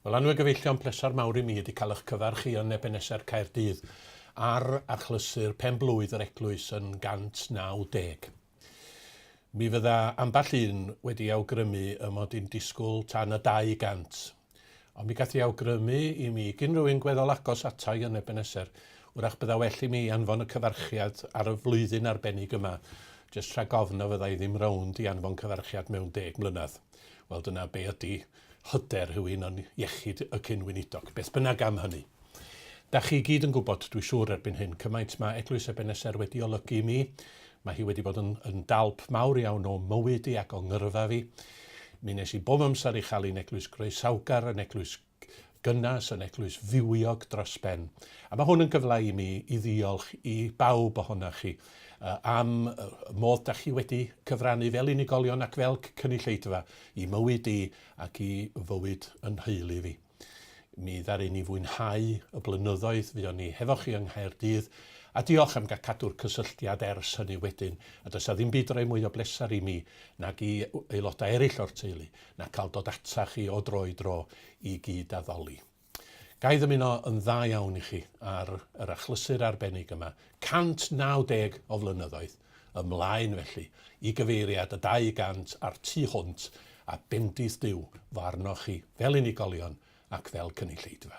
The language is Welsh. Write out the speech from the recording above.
Wel, anwyl gyfeillion, pleser mawr i mi ydi cael eich cyfarch chi yn Ebeneser Caerdydd ar achlysur pen-blwydd yr eglwys yn 190. Mi fydda ambell un wedi awgrymu y mod i'n disgwyl tan y 200, ond mi gath i awgrymu i mi gyn rhywun gweddol agos atai yn Ebeneser, wrach bydda well i mi anfon y cyfarchiad ar y flwyddyn arbennig yma, jyst rhag ofn na fydda i ddim rownd i anfon cyfarchiad mewn deg mlynedd. Wel, dyna be ydy hyder rhywun yn iechyd y cyn-weinidog, beth bynnag am hynny. Da chi i gyd yn gwybod, dwi siŵr erbyn hyn, cymaint mae Eglwys Ebeneser wedi olygu i mi, mae hi wedi bod yn, yn dalp mawr iawn o mywyd i ac o ngyrfa fi. Mi nes i bob amser i chael un eglwys groesawgar, yn eglwys gynnas yn Eglwys Fywiog dros ben. A mae hwn yn gyfle i mi i ddiolch i bawb ohonoch chi am y modd da chi wedi cyfrannu fel unigolion ac fel cynulleidfa i mywyd i ac i fywyd yn nheulu fi. Mi ddaru ni fwynhau y blynyddoedd fuon ni hefo chi yng Nghaerdydd a diolch am gael cadw'r cysylltiad ers hynny wedyn a does a ddim byd roi mwy o bleser i mi nag i aelodau eraill o'r teulu na cael dod ata chi o dro i dro i gyd-addoli. Ga i ddymuno yn dda iawn i chi ar yr achlysur arbennig yma, 190 o flynyddoedd ymlaen felly, i gyfeiriad y 200 a'r tu hwnt, a bendith Duw fo arnoch chi fel unigolion ac fel cynulleidfa.